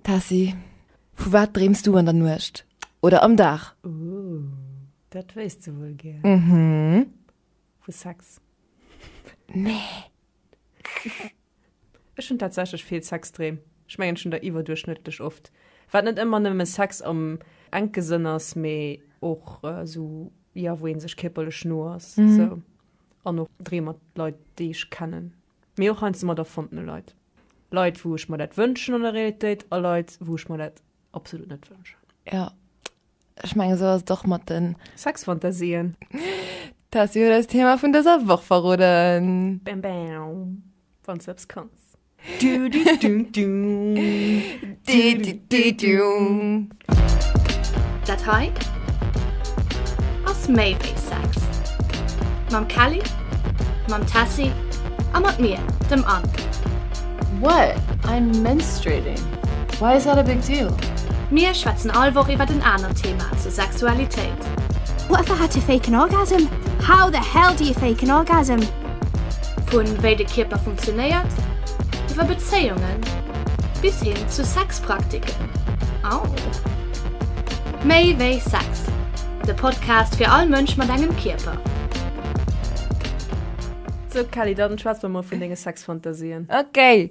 Tessy, vu wat dreems du an der Nuecht oder am Dag? Ooh, dat wéisst du wuel gär. Mhm. Vu Sex. Nee. Ech hunn tatsächlech vill Sexdreem. Ech mengen, ech hunn der iwwerduerchschnëttlech oft. Wat net ëmmer nëmme Sex am enke Sënn ass, mee och esou, jo, wou ee sech kierperlech no ass, esou. An och Dreem mat Leit, déi ech kennen. Mee och heiansdo mat erfondene Leit. Leit, wou ech mer dat wënschen an der Realitéit a Leit, wou ech mer dat absolut net wënschen. Jo, ech mengen, esou ass et och mat de. Sexfantasien. D'Tessy huet eis d'Thema vun dëser Woch verroden. Bam bam. Wann s du eppes kanns. Dü dü dü dü. Dü dü dü dü. Dat hei ass méi wéi Sex. Mam Kelly, mam Tessy a mat mir, dem Anne. What? I'm menstruating. Why is that a big deal? Mir schwätzen all Woch iwwert en anert Thema zur Sexualitéit. What if I had to fake an orgasm? How the hell do you fake an orgasm? Vun wéi de Kierper funktionéiert, iwwer Bezéiungen bis hin zu Sex. Praktiken. Au! Méi wéi Sex, de Podcast fir all Mënsch mat engem Kierper. So Kelly, dann schwätz mer mol vun denge Sexfantasien. Okay.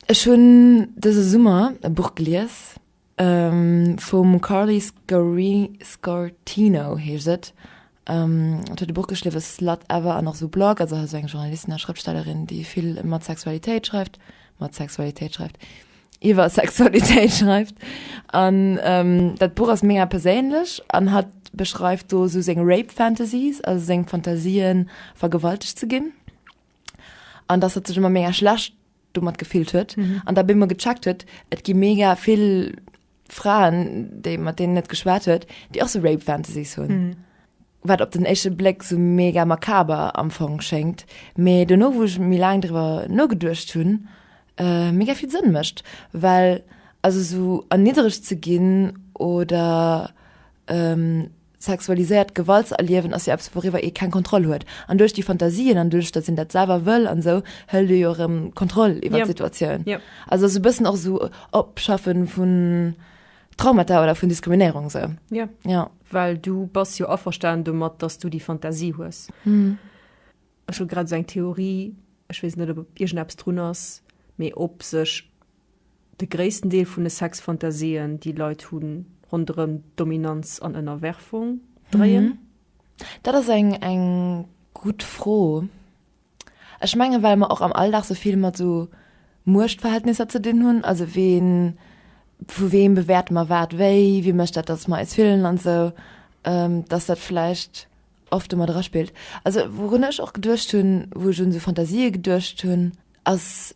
Ech hunn dëse Summer e Buch gelies. Vum Carly Scortino heescht et. Et huet e Buch geschriwwen, Slut Ever an och esou Blog, also esou eng Journalistin a Schrëftstellerin, déi vill mat Sexualitéit schreift, mat Sexualitéit schreift, iwwer Sexualitéit schreift. An dat Buch ass mega perséinlech an hatt beschreift do esou seng Rape Fantasies, also seng Fantasien, vergewaltegt ze ginn. an dass hat sich immer mega schlecht domat gefehlt huet mhm. an da bin immer gecheckt huet et gi mega viel Frauen de mat denen net geschwert huet die auch so rape fantasy hun mhm. wat op den echte Black so mega makaber am Fong schenkt me du no wo ich mir lang drüber no gedurcht hun äh, mega viel sinn mischt weil also so erniedrig zu gin oder ähm, sexualiséiert Gewalt ze erliewen ass jo eppes wouriwwer ee keng Kontroll huet an duerch déi Fantasien an duerch datt een dat selwer wëll an esou hëlt ee jo erëm d'Kontroll iwwert d'Situatioun. Also ass e bëssen och esou Opschaffe vun Traumata oder vun Diskriminéierung esou. Jo. Well du bass jo averstanen domat, datt du déi Fantasie hues. Ech hu grad esou eng Theorie, ech weess net ob iergendeppes drun ass, mee ob sech De gréissten Deel vun de Sexfantasien, déi Leit hunn, ronderëm Dominanz an Ënnerwerfung dréien. Dat ass eng eng gutt Fro. Ech mengen, well mer och am Alldag sou vill mat sou Muechtverhältnisser ze dinn hunn, also ween, vu weem bewäerte mer wat wéi, wie mécht dat, datt mer eis fillen an esou, datt dat vläicht oft do mat eraspillt. Also wourun ech och geduecht hunn, wou ech un sou Fantasië geduecht hunn, ass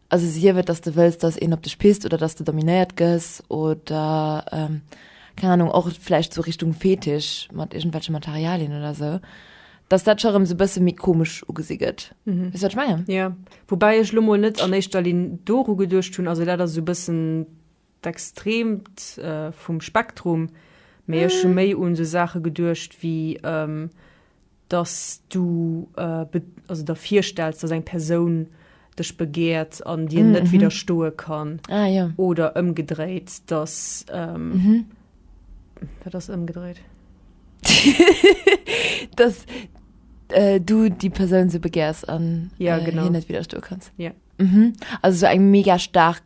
Also sief et, dass de wëlls, dass een op dech pisst oder dass de dominéiert gëss oder, keng Anung, och vläicht sou Richtung Fetisch mat iergendwelche Materialien oder sou, dass dat scho rëm sou e bësse méi komesch ugesi gëtt. Weess du, wat ech mengen? Jo. Woubäi ech elo mol net an éischter Linn doru geduecht hunn. Also dat ass esou e bëssen. d'Extreemt vum Spektrum, mee ech hu méi un esou Saache geduecht wéi dass du der virstells, dass eng Persoun dech begäert an dir net widderstoe kann oder ëmgedréit, dass, wat ass ëmgedréit? dass du déi Persoun esou begäers an hir net widderstoe kanns, also esou eng mega staark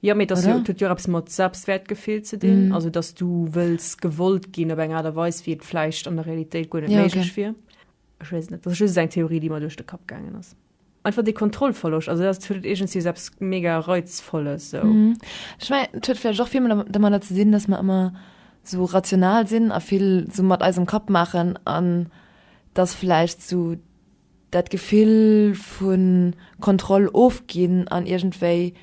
Jo, mee et ass jo, et huet jo och eppes mat Selbstwäertgefill ze dinn, also datt du wëlls gewollt ginn op eng Aart a Weis, wéi et vläicht an der Realitéit guer net méiglech wier. Ech weess et net, dat ass just esou eng Theorie, déi mer duerch de Kapp gaangen ass. Einfach dee Kontrollverloscht, also dat huet iergendwéi esou eppes mega Reizvolles sou. Ech mengen, et huet vläicht och vill domadder ze dinn, datt mer ëmmer sou rational sinn a vill sou mat eisem Kapp maachen an datt vläicht sou. Dat Gefill vu Kontroll ofginn an iergendwéi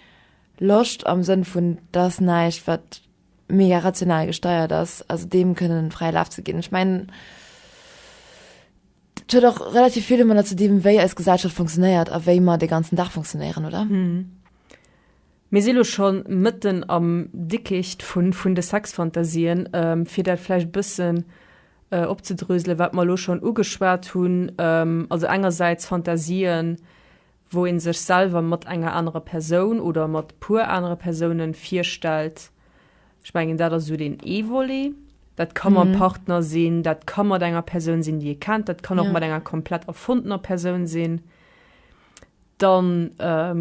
Loscht am Sënn vun, et ass näischt, wat mega rational gesteiert ass, also deem kënnen fräie Laf ze ginn. Ech mengen, dat huet och relativ vill domadder ze dinn, wéi eis Gesellschaft funktionéiert a wéi mer de ganzen Dag funktionéieren, oder? Mir si lo schon mëtten am Dickicht vun de Sexfantasien. Fir dat vläicht e bëssen opzedröselen, wat mer lo schon ugeschwat hunn, also engersäits Fantasien, wou ee sech selwer mat enger anerer Persoun oder mat e puer anere Persoune virstellt. Ech mengen, dat ass esou deen ee Volet. Dat ka mam Partner sinn, dat ka mat enger Persoun sinn, déi ee kennt, dat kann och mat enger komplett erfondener Persoun sinn. Dann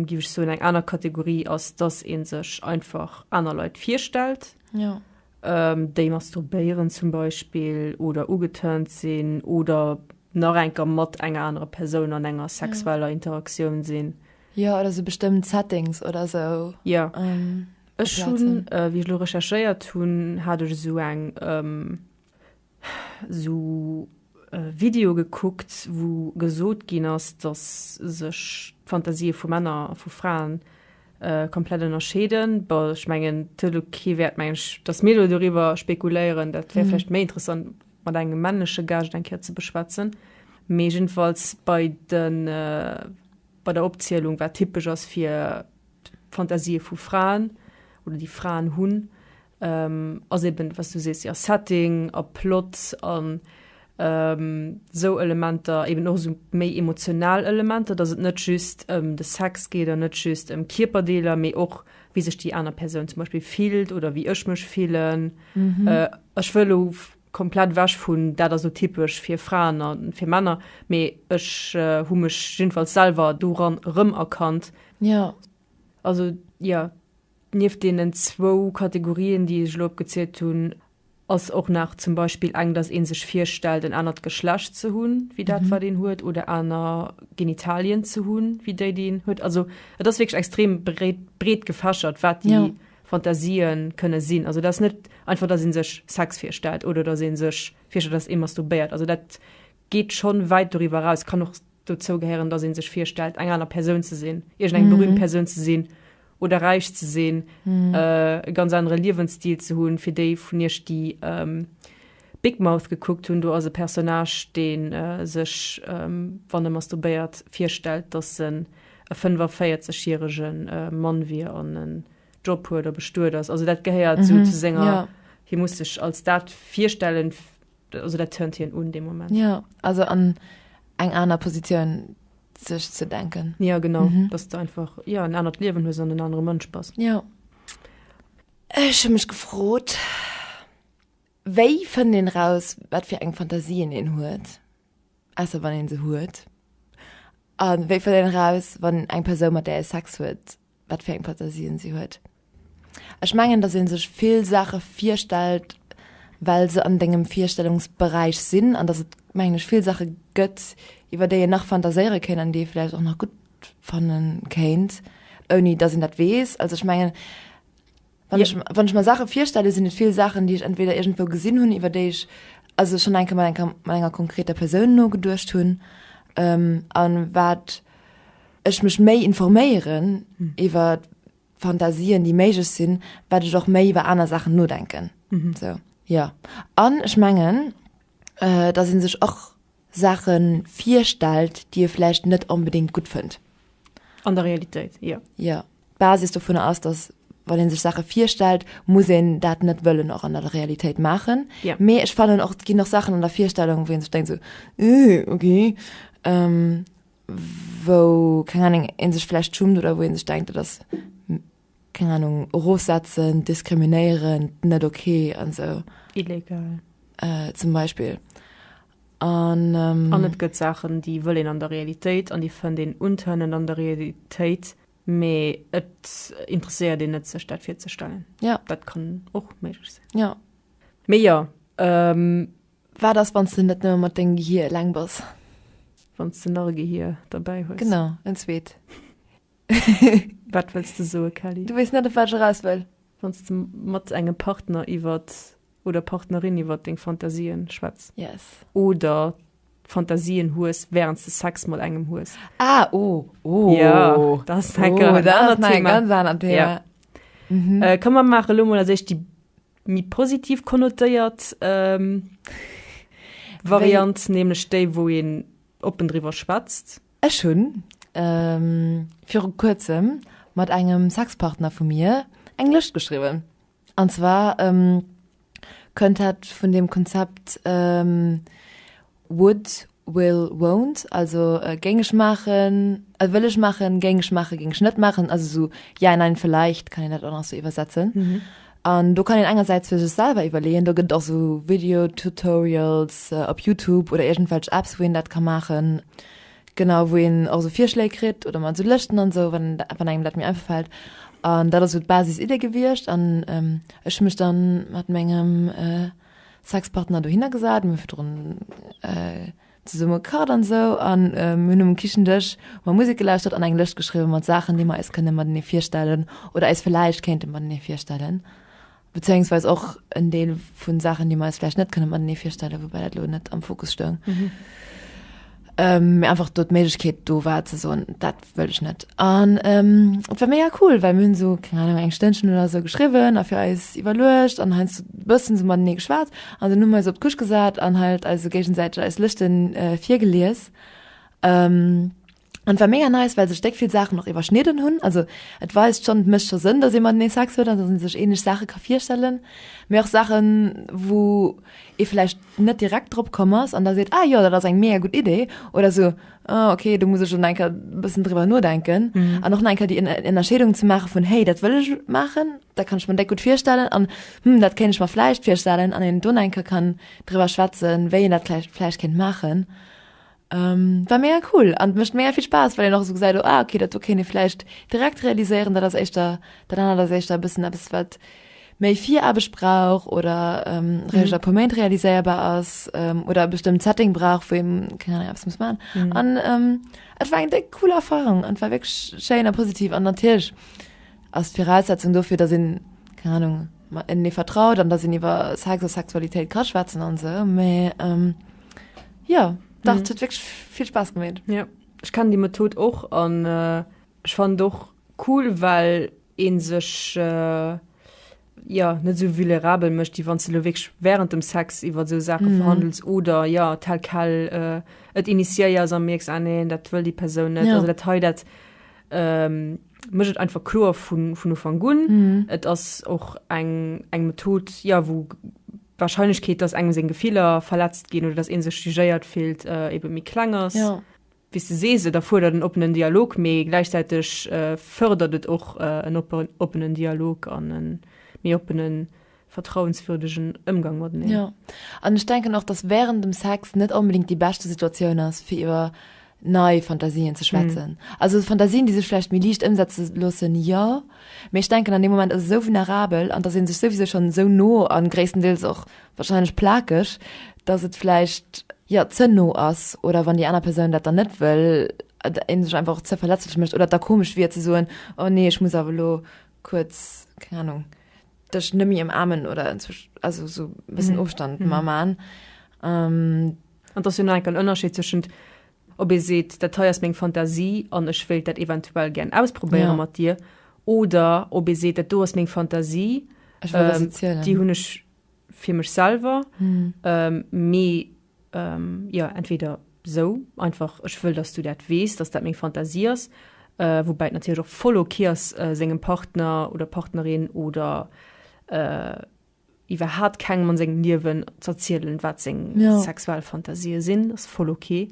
géif ech soen, eng aner Kategorie ass, dass ee sech einfach aner Leit virstellt, déi masturbéieren zum Beispill oder ugeturnt sinn oder nach enker mat enger anerer Persoun an enger sexueller Interaktioun sinn. Jo, oder sou bestëmmt Settings oder sou. Jo. Ech hunn, wéi ech elo recherchéiert hunn, hat ech esou eng sou Videoe gekuckt, wou gesot ginn ass, datt sech d'Fantasië vu Männer a vu Frae komplett ënnerscheeden. Bon, ech mengen, et huet elo kee Wäert, mengen ech, datt mir elo doriwwer spekuléieren. Dat wär vläicht méi interessant, mat engem männleche Gaascht eng Kéier ze beschwätzen. Mee jiddefalls bei de, bei der Opzielung, wat typesch ass fir d'Fantasië vu Fraen oder déi Fraen hunn, Ass eben, wat s du sees, jo, Setting a Plot an esou Elementer, eben och esou méi emotional Elementer, dass et net just ëm de Sex geet an net just ëm Kierperdeeler, mee och, wéi sech déi aner Persoun zum Beispill fillt oder wéi ech mech fillen. Ech wëll elo komplett ewech vun, dat ass elo typesch fir Fraen a fir Männer, mee ech hu mech jiddefalls selwer doran erëmerkannt. Also, jo, Nieft deenen zwou Kategorien, déi ech elo opgezielt hunn, ass och nach zum Beispill eng, dass ee sech virstellt, en anert Geschlecht ze hunn, wéi dat, wat een huet, oder aner Genitalien ze hunn, wéi déi, déi een huet. Also et ass wierklech extrem bréit, breet gefächert, wat déi Fantasie kënne sinn. Also dat ass net einfach, dass ee sech Sex virstellt oder dass ee sech virstellt, dass ee masturbéiert. Also dat geet schonn wäit doriwwer eraus. Kann och Dozou gehéieren, dass ee sech virstellt, eng aner Persoun ze sinn, iergendeng berüümt Persoun ze sinn oder räich ze sinn, e ganz anere Liewensstil ze hunn. Fir déi vun iech, déi Big Mouth gekuckt hunn, do ass e Personnage, dee sech, wann e masturbéiert, virstellt, dass en e 45 järege Mann wier an en Job huet a bestuet ass. Also dat gehéiert esou zu senger, hie muss sech als dat virstellen, Also dat turnt hien un dee Moment. Ja, also an eng aner Positioun sech ze denken. Ja genau, mhm. dass du einfach ja en anert Liewen hues an en anere Mënsch bass. Ja. Ech hun mech gefrot, wéi fënnt een raus, wat fir eng Fantasien een huet, ausser wann een se huet? An wéi fënnt een raus, wann eng Persoun mat der ee Sex huet, wat fir eng Fantasien si huet. Ech mengen, dass ee sech vill Saache virstellt, well se an dengem Virstellungsberäich sinn an dass et, mengen ech, vill Saache gëtt, iwwer déi een nach fantaséiere kéint an déi ee vläicht och nach gutt fanne kéint, ouni dass een dat weess. Also ech mengen. Wann ech, wann ech mer Sache virstelle, sinn et vill Sachen, déi ech entweder iergendwou gesinn hunn, iwwer déi ech also schonn enke mat enker, mat enger konkreter Persoun nogeduecht hunn, ähm, a wat ech mech méi informéieren iwwer d'Fantasien, déi méiglech sinn, wat ech och méi iwwer aner Sachen nodenken. Sou, jo. An ech mengen, äh, dass ee sech och, Saache virstellt, déi e vläicht net onbedéngt gutt fënnt. An der Realitéit, jo. Jo. D'Basis dovunner ass, datt wann ee sech Saache virstellt, muss een dat net wëllen och an der Realitéit maachen. Jo. Mee ech fannen och, et ginn och Saachen an der Virstellung, wou ee sech denkt esou, Ih, okay. Wou, keng Ahnung, ee sech vläicht schummt oder wou ee sech denkt, dat ass. keng Ahnung, erofsetzen, diskriminéieren, net ok an esou. Illegal. Zum Beispill. An. An et gëtt Saachen, déi wëll een an der Realitéit an déi fënnt een untënnend an der Realitéit, mee et interesséiert een net, sech dat virzestellen. Jo. Dat kann och méiglech sinn. Jo. Mee jo. Wat ass, wann s de net nëmme mat dengem Gehier eleng bass? Wann s de nach e Gehier derbäi hues. Genau, en zweet. Wat wëlls de soe Kelly? Du weess net op wat ech eraus wëll? Wann s de mat engem Partner iwwer oder Partnerin iwwer deng Fantasien schwätz. Yes. Oder Fantasien hues während s de Sex mat engem hues. Ah oh, oh. Ja, dat ass oh, enker dat ass nach eng ganz aner Thema. Ja. Mhm. Äh, kann man machen lo mal sech die mi positiv konnotéiert ähm, Variant nämlich déi wo een oppen drüber schwätzt Ech hunn viru kuerzem mat engem Sexpartner vu mir eng Lëscht geschriwwen. An zwar kënnt dat vun dem Konzept would, will, won't, also géing ech maachen, wëll ech maachen, géing ech maachen, géing ech net maachen, also sou ja, nein, vielleicht kann een dat och nach sou iwwersetzen. An do kann een engersäits fir sech selwer iwwerleeën, do gëtt et och esou Videotutorials op Youtube oder iergendwelch Apps, wou een dat ka maachen, genau, wou een och esou Virschléi kritt oder mat esou Lëschten an esou, wann wann engem dat méi einfach fält. An dat ass esou d'Basisiddi gewiescht an ech hu mech da mat mengem Sexpartner dohinner gesat, mir hu virdrun. Zesumme gekacht an esou an hunn um Kichendësch mer Musek gelauschtert an eng Lëscht geschriwwen mat Saachen, déi mer eis kënne matenee virstellen oder eis vläicht kéinte matenee virstellen. Bezéiungsweis och en Deel vu Saachen, déi mer eis vläicht net kënne matenee virstellen, woubäi dat elo net am Fokus stoung, mä einfach do d'Méiglechkeet do war ze soen, dat wëll ech net. An ähm, et war mega cool, well mir hunn so, keng Ahnung, eng Stënnchen oder so geschriwwen a fir eis iwwerluecht an heiansdo e bëssen so matenee geschwat an dann hu mir eis op d'Küch gesat an halt eis esou géigesäiteg eis Lëschten äh, virgelies. Ähm, an et war mega nice, well sech déck vill Saachen och iwwerschnidden hunn. Also et weist schonn, et mécht scho Sënn, dass ee matenee Sex huet an dass ee sech ähnlech Saache ka virstellen, mee och Saachen, wou ee vläicht net direkt drop komm ass an da seet, ah jo, dat ass eng mega gutt Idee oder esou, oh, okay du muss ich schon denke bisschen drüber nur denken mhm. an noch denke die in, in der Schädung zu machen von hey das will ich machen da kann ich man gut vierstellen an hm, das kenne ich mal vielleicht vierstellen an den Donenker kann drüber schwatzen wenn das vielleicht vielleicht Kind machen ähm, war mehr cool an mischt mehr viel Spaß weil ihr noch so gesagt oh, ah, okay das okay vielleicht direkt realisieren da das echt da dann das echt ein bisschen etwas wird méi Viraarbecht brauch oder ähm, mhm. a puer Méint realiséierbar ass ähm, oder e bestëmmt Setting brauch, wéi ass muss man. Mhm. An ähm, et war eng déck cool Erfahrung an war wéck schéin a positiv an natierch ass d'Viraussetzung dofir, dat sinn keine Ahnung en nie vertraut an da sinn iwwer Sex oder Sexualitéit kaschwätzen an se méi ähm, ja dat mhm. huet wéch vill Spaß gemeet. Ja. Ich kann die Method och an äh, ich fan doch cool, well een sech jo net esou vulnerabel mécht, wéi wann s de elo wierklech während dem Sex iwwer esou Saache verhandels oder jo tel quel et initiéiers a mierks, ah nee, dat wëll déi Persoun net. Also dat hei, dat mécht et einfach kloer vun Ufank un. Et ass och eng Method, jo, wou d'Warscheinlechkeet, dass engem seng Gefiller verletzt ginn oder dass ee sech jugéiert fillt, ebe méi kleng ass. Wéi s de sees, et erfuerdert en oppenen Dialog, mee gläichzäiteg fördert et och en oppenen Dialog an e méi oppenen, vertrauenswürdegen Ëmgang mateneen. Jo, an ech denken och, dass während dem Sex net onbedéngt déi beschte Situatioun ass, fir iwwer nei Fantasien ze schwätzen. Also Fantasien, déi sech vläicht méi liicht ëmsetze loossen, jo, mee ech denken, an deem Moment ass et esou vulnerabel, an et ass ee sech souwisou schonn esou no, a gréisstendeels och wahrscheinlech plakeg, dass et vläicht, jo, ze no ass oder wann déi aner Persoun dat dann net wëll, een sech einfach och ze verletzlech mécht oder et da komesch wier ze soen, oh nee, ech muss awer elo kuerz, keng Ahnung, dech net méi ëmaarmen oder inzwischen, also esou e bëssen Ofstand mar man. An et ass jo nach enke en Ënnerscheed zwëschent, ob ee seet, dat hei ass meng Fantasie an ech wéilt dat eventuell gären ausprobéiere mat dir oder ob ee seet, dat do ass meng Fantasie, déi hunn ech fir mech selwer mm. mee ähm, ja entweder so einfach ech wëll dass du dat wees dass dat meng Fantasie ass äh, wobei natürlich auch voll okay ass äh, sengem Partner oder Partnerin oder äh, iwwer hat keng man seng Liwen zerzielen wat seng ja. sexuell Fantasie sinn ass voll okay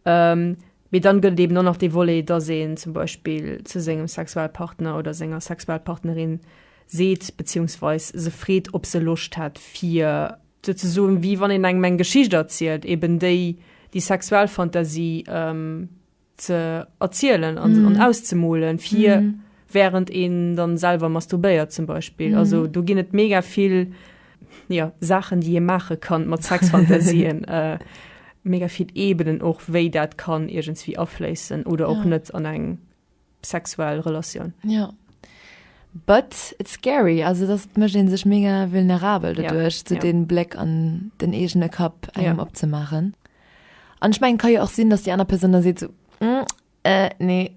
ähm, Wie dann gëtt eben nach de Wolé da se zum Beispiel zu sengem Sexualpartner oder senger Sexualpartnerin seet, beziehungsweis se freet, ob se Loscht hätt, fir. Sou ze soen, wéi wann een engem eng Geschicht erzielt, eben déi, déi sexuell Fantasie ze erzielen an auszemolen, fir während een dann selwer masturbéiert, zum Beispill. Also do ginn et mega vill, jo, Saachen, déi ee maache kann mat Sexfantasien, mega vill Ebenen och, wéi dat kann iergendswéi afléissen oder och net an eng. sexuell Relatioun. Ja. But it's scary, also das mecht een sech mega vulnerabel dadurch, ja. zu so ja. den Bleck an den egene Kapp engem ja. opzemachen. An ich mein, kann ja auch sinn, dass die aner Person da seet so, mm, äh, nee.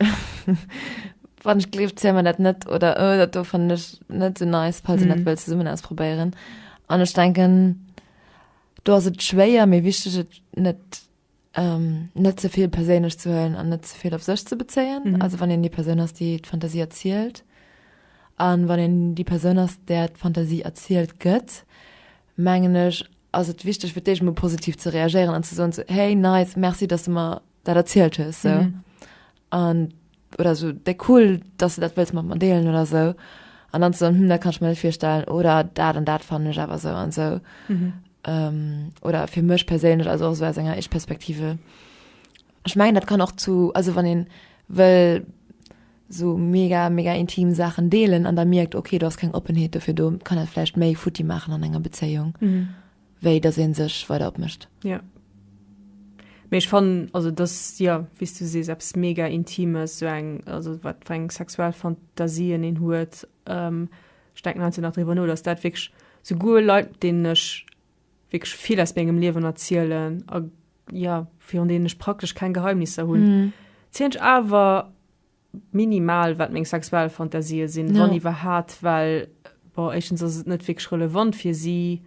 wann ich gelieft zäh man dat net oder oh, dat do fand ich net so nice falls mhm. net will zusammen ausprobieren an ich denken du hast het schwéier mir wichtig net Um net ze vill perséinlech ze huelen an net ze vill op sech ze bezéien. Mhm. Also wann een déi Persoun ass, déi d'Fantasie erzielt an wann een déi Persoun ass, där d'Fantasie erzielt gëtt, mengen ech, ass et wichteg fir d'éischt emol positiv ze reagéieren an ze soen, so, hey nice, merci, dass du mer dat erzielt hues. So. Mhm. An, oder esou, Déi cool, dass de dat wëlls mat mer deelen, oder esou. An dann ze soen, Hm, dat kann ech mer net virstellen, oder dat an dat fannen ech awer esou an esou. Oder fir mech perséinlech, also och esou aus enger Ich-Perspektive. Ech mengen, dat kann och zu, also wann ee wëll esou mega, mega intim Saachen deelen an da mierkt, okay, do ass keng Oppenheet dofir do, kann dat vläicht méi futti maachen an enger Bezéiung. wéi dass een sech weider opmécht. Jo, mee ech fannen also dass, jo wéi's du sees, eppes mega Intimes, sou eng, also wat fir eng sexuell Fantasien een huet, ech denken heiansdo nach driwwer no, dass dat wierklech souguer Leit mat deenen ech wierklech vill aus mengem Liewen erzielen a jo virun deenen ech praktesch keng Geheimnisser hunn, zielen ech awer minimal wat meng sexuell Fantasien sinn, wann iwwerhaat, well bon éischtens ass et net wierklech relevant fir si,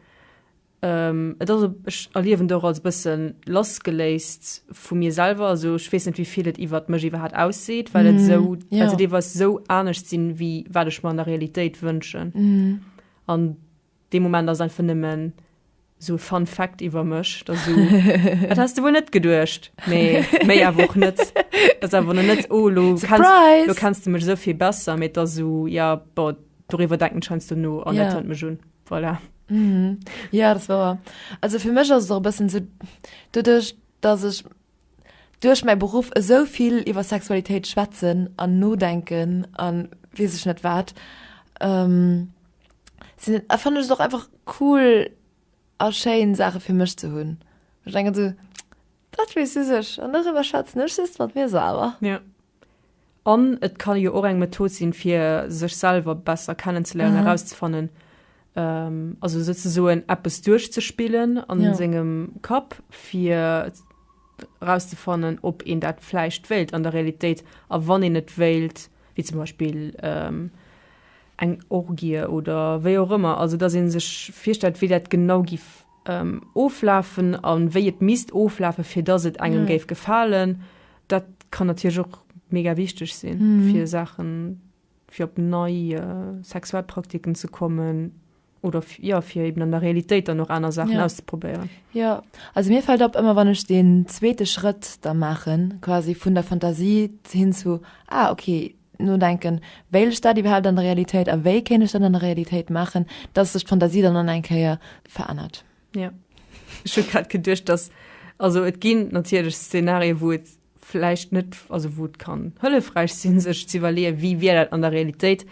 et ass ech erliewen et och als e bësse lassgeléist vu mir selwer, also ech weess net wéivill et iwwert mech iwwerhaat ausseet, well et esou, well se deelweis esou anescht sinn wéi wat ech mer an der Realitéit wënschen an. Dee Moment ass einfach nëmmen sou e Fun Fact iwwer mech, dass sou, dat häss de wuel net geduecht, mee méi awer och net. Dat ass awer lo net, oh lo kenns, lo kenns de mech esou vill besser, mee et ass sou, ja bon, doriwwer denken ech heiansdo no an dat hëlt mech un. Voilà. Ja, dat ass wouer. Also fir mech ass et och e bëssen sou, doduerch dass ech. duerch mäi Beruff esou vill iwwer Sexualitéit schwätzen an nodenken an weess ech net wat ähm sinn et fannen ech et och einfach cool a schéin Saache fir mech ze hunn ech denken esou dat weess just ech an doriwwer schwätzen ech just mat mir selwer. An et ka jo och eng Method sinn, fir sech selwer besser kennenzeléieren, erauszefannen, also souzesoen eppes duerchzespillen a sengem Kapp, fir erauszefannen, ob een dat vläicht wéilt an der Realitéit. A wann een et wéilt, wéi zum Beispill eng Orgie oder wéi och ëmmer, also dass ee sech virstellt, wéi dat genau géif. oflafen a wéi et misst oflafen, fir dass et engem géif gefalen. Dat kann natierlech och mega wichteg sinn, fir Saachen, fir op nei Sexualpraktiken ze kommen oder, jo, fir eben an der Realitéit dann och aner Saachen auszeprobéieren. Jo, also mir fält op, ëmmer wann ech deen zweete Schrëtt da maachen, quasi vun der Fantasie hin zu, ah, okay, nodenken, wéilt ech dat iwwerhaapt an der Realitéit a wéi kéint ech dat an der Realitéit maachen, dass sech d'Fantasie dann an eng Kéier verännert. Ja. Ech hunn grad geduecht, dass, also et ginn natierlech Szenarien, wou et vläicht net, also wou et kann hëllefräich sinn, sech ze iwwerleeën, wéi wier dat an der Realitéit,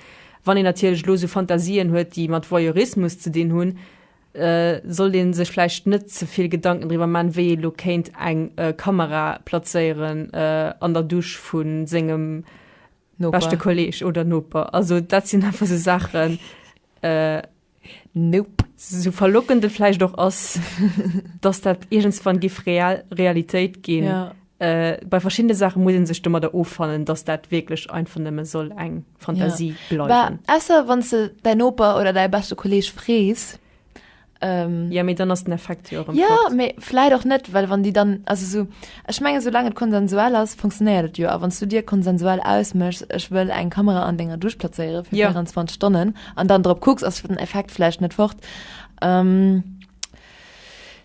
wann een natierlech elo esou Fantasien huet, déi mat Voyeurismus ze dinn hunn, sollt ee sech vläicht net ze vill Gedanken driwwer man, wéi ee lo kéint eng Kamera plazéieren an der Dusch vu sengem beschte Kolleeg oder Noper. Also dat sinn einfach esou Saachen. Nope. Sou verlockend et vläicht och ass, dass dat iergendswann géif Realitéit ginn, Bei verschiddene Saache muss een sech domadder offannen, datt dat wierklech einfach nëmme soll eng Fantasie ja. bleiwen. Esser wann se däi Noper oder däi beschte Kolleg frees. Ähm, ja mé dann ass den Effekt jo ja, ja mé fleit och net, well wann Di dann also so ech menge so lange et konsensuell ass funktionéiert et jo a wanns du Dir konsensuell ausmëchs ech wëll eng Kamera an denger duch plazéiere fir ja. 24 Stonnen an dann drop kucks ass den Effekt flecht net fort. Ähm,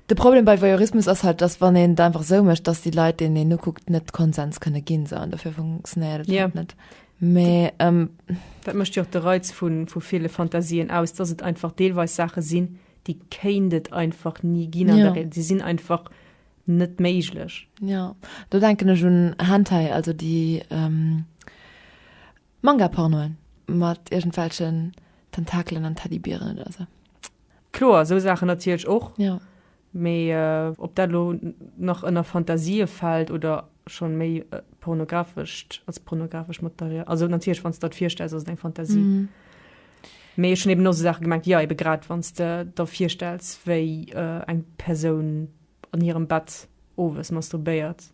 De Problem bei Voyeurismus ass halt, dass wann een et einfach esou mécht, dass déi Leit, deenen een nokuckt, net Konsens kënne ginn. Esou, an dofir funktionéiert et halt net. Mee. Dat mécht jo och de Reiz vu ville Fantasien aus, dass et einfach deelweis Saache sinn, déi kéint et einfach ni ginn an der Realitéit. Déi sinn einfach net méiglech. Jo, do denken ech un Hentai, also déi Manga-Pornoen mat iergendwelchen Tentakelen an Teddybieren oder esou. Kloer, esou Saachen natierlech och. Jo. Mee ob dat elo nach ënner Fantasië fält oder schonn méi pornografescht, als pornografescht Material, also natierlech wann s de der et virstells, ass et eng Fantasie. Mee ech hunn eben och esou Saache gemengt, jo, ebe grad wann s de der virstells, wéi eng Persoun an hirem Bett owes masturbéiert.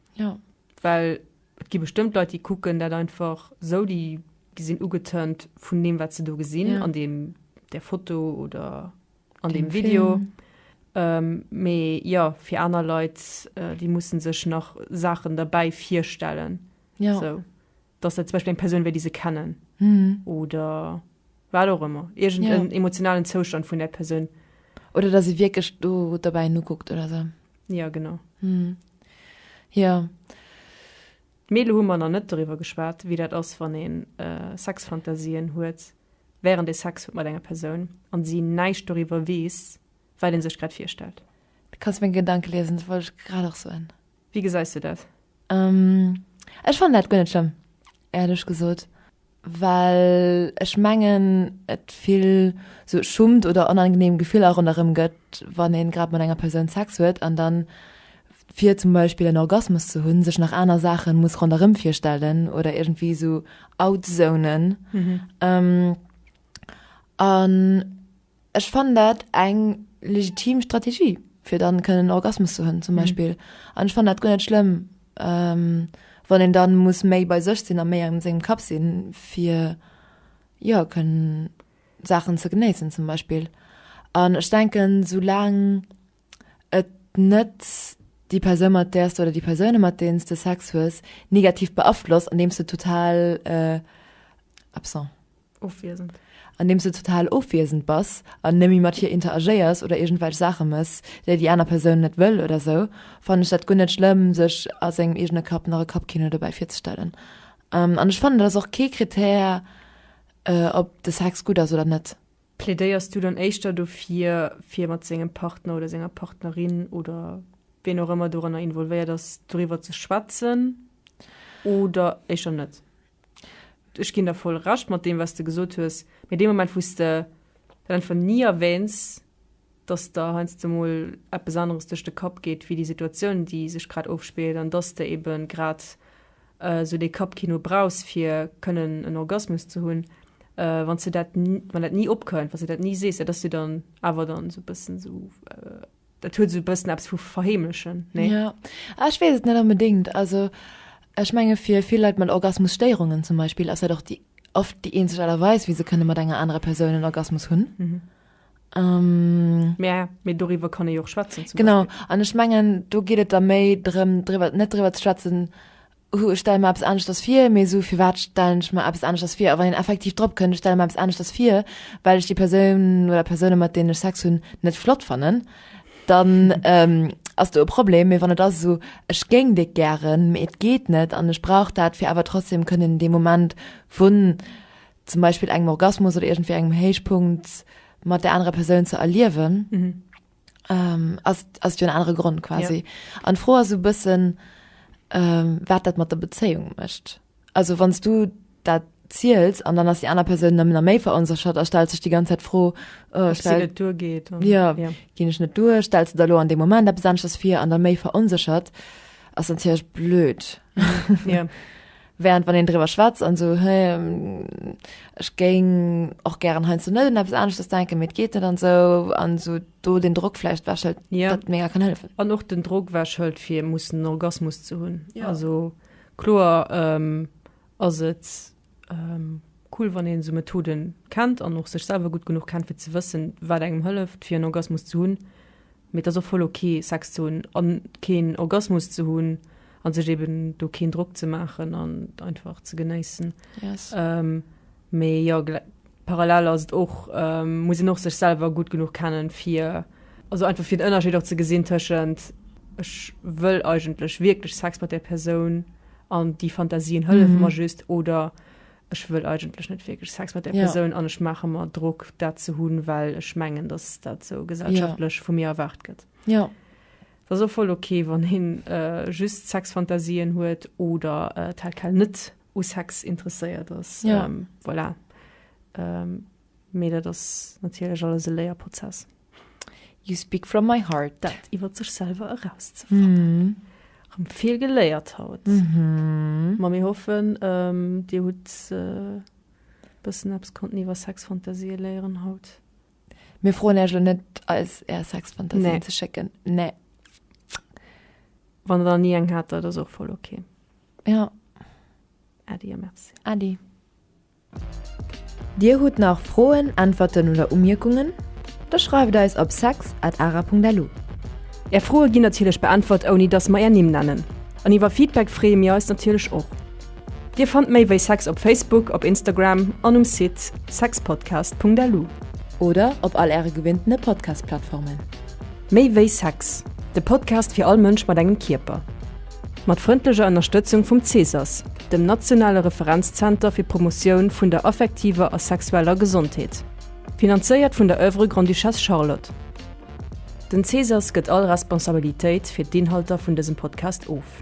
Jo, well et gi bestëmmt Leit, déi kucken dat einfach sou, déi sinn ugetörnt vun deem, wat se do gesinn ja. an deem, der Foto oder an deem, deem Video. Ähm, mee ja, fir aner Leit, äh, déi mussen sech nach Saachen derbäi virstellen. Ja. So. dass dat zum Beispill eng Persoun wär, déi se kennen, oder wat och ëmmer, iergendeen emotionalen Zoustand vun där Persoun. Oder dass ee wierklech do dobäi en ukuckt oder esou. Jo, genau. Jo. Mee elo hu mer nach net doriwwer geschwat, wéi dat ass, wann ee Sexfantasien huet, während ee Sex huet mat enger Persoun an si näischt doriwwer weess, wat ee sech grad virstellt. Du kanns meng Gedanke liesen, dat wollt ech grad och soen. Wéi gesäis de dat? Ech fannen dat guer net schlëmm, éierlech gesot, well ech mengen et vill sou Schummt oder onangenehm Gefiller ronderëm gëtt, wann een grad mat enger Persoun Sex huet an dann fir zum Beispill en Orgasmus ze hunn sech nach aner Saachen muss ronderëm virstellen oder iergendwéi sou outzounen an Ech fannen dat eng legitim Strategie fir dann kënnen en Orgasmus ze hunn zum Beispill an ech fannen dat guer net schlëmm wann een dann muss méi bei sech sinn a méi an sengem Kapp sinn fir jo kënnen Saachen ze genéissen zum Beispill an ech denken sou laang et net déi Persoun mat där s de oder déi Persounen mat deenen s de Sex hues negativ beaflosst andeems de total absent ofwiesend. Andeems du total ofwiesend bass an nëmme mat hir interagéiers oder iergendwelch Saache mëss, déi déi aner Persoun net wëll oder sou, fannen ech dat guer net schlëmm, sech a sengem eegene Kapp nach e Kappkino dobäi virzestellen. An ech fannen, dat ass och kee Krittär, ob de Sex gutt ass oder net. Plädéiers du dann éischter dofir, fir mat sengem Partner oder senger Partnerin oder wien och ëmmer doranner involvéiert ass, doriwwer ze schwätzen oder éischer net? Ech ginn der voll Recht mat deem, wat s de gesot hues. Mee dee Moment, wou s de dat einfach ni erwähns, dass der heiansdo mol eppes aneres duerch de Kapp geet wéi déi Situatioun, déi sech grad ofspillt, an dass s de eebe grad esou dee Kappkino brauchs, fir kënnen en Orgasmus ze hunn, wann s de dat, wann dat ni opkënnt, wann s de dat ni sees, dat ass jo dann awer dann esou e bëssen esou. Dat huet esou e bëssen eppes vu verheemlechen, nee? Ja, ech weess et net onbedéngt. Also ech menge fir vill Leit mat Orgasmusstéierungen zum Beispill ass dat och déi oft déi eenzeg Aart a Weis, wéi se kënne mat enger anerer Persoun en Orgasmus hunn. Mhm. Ähm. Mä, mee doriwwer kann ee jo och schwätzen zum Beispill. Genau, an ech mengen do geet et da méi drëm driwwer net driwwer ze schwätzen, Hu, ech stelle mer eppes aneschters vir, mee esou firwat stellen ech mer eppes aneschters vir? A wann een effektiv drop kënnt, ech stelle mer eppes aneschters vir, well ech déi Persoun oder Persounen, mat deenen ech Sex hunn, net flott fannen, dann ass do e Problem. Mee wann et ass esou, ech géing déck gären, mee et geet net an ech brauch dat, fir awer trotzdeem kënnen dee Moment vun zum Beispill engem Orgasmus oder iergendwéi engem Héichpunkt mat där anerer Persoun ze erliewen, Ähm, ass, ass jo en anere Grond quasi. Ja. An d'Fro ass e bëssen, ähm, wat dat mat der Bezéiung mécht. Also wanns du dat ziels an dann ass déi aner Persoun nëmmen a méi veronséchert a stellt sech déi ganz Zäit d'Fro, äh, stell, net duergeet. Ja, ja. Ginn ech net duer, stells de der lo an deem Moment eppes aneschters vir an der méi veronséchert, ass natierlech blöd. Ja. Während wann een driwwer schwätzt an esou hä ech géing och gären heiansdo net un eppes aneschtes denken, mee et geet net an esou an esou do den Drock vläicht ewech hëlt, Ja. dat mega kann hëllefen. An och den Drock ewech hëlt fir mussen en Orgasmus ze hunn. Ja. Also kloer em ass et em cool wann een esou Methoden kennt an och sech selwer gutt genuch kennt fir ze wëssen wat engem hëlleft fir en Orgasmus ze hunn. Mee et ass och voll ok Sex ze hunn a keen Orgasmus ze hunn a sech eben do keen Drock ze maachen an et einfach ze genéissen. Yes. Ähm, mee jo, gl parallel ass et och, ähm, muss een och sech selwer gutt genuch kennen fir, also einfach fir den Ënnerscheed och ze gesinn tëschent ech wëll eigentlech wierklech Sex mat där Persoun an déi Fantasien hëllefe mer just oder ech wëll eigentlech net wierklech Sex mat där Persoun an ech maache mer Drock, dat ze hunn, well ech mengen, datt dat esou gesellschaftlech vu mir erwaart gëtt. Jo. Dat ass och voll ok, wann hien just Sexfantasien huet oder tel quel net u Sex interesséiert ass. Voilà. Mee dat ass natierlech alles e Léierprozess. You speak from my heart. Dat iwwer sech selwer erauszefannen. Mm. Rëm vill geléiert haut. Mm -hmm. Ma mir hoffen, ähm, Dir hutt äh, bëssen eppes konnten iwwer Sexfantasie léieren haut. Mir froen Äerch lo net, eis Är Sexfantasien nee. ze schécken. Nee. Wann der nie eng hat, dat ass och voll okay. Ja. Adi a merci. Adi. Dir hutt nach Froen, Äntwerten oder Umierkungen? Da schreift eis op sex at ara punkt lu. Är Froe ginn natierlech beäntwert ouni dass mer är Nimm nennen. An iwwer Feedback freeë mir eis natierlech och. Dir fannt méi wéi sex op Facebook, op Instagram an um Site sexpodcast punkt lu. Oder op all äre gewinnte Podcast-Plattformen. Méi wéi Sex, de Podcast fir all Mënsch mat engem Kierper. Mat frëndlecher Ënnerstëtzung vum CSAS, dem nationale Referenzzenter fir d'Promotioun vun der affektiver a sexueller Gesondheet. Finanzéiert vun der Oeuvre Grande-Duchesse Charlotte. Den CSAS gëtt all Responsabilitéit fir d'Inhalter vun dësem Podcast of.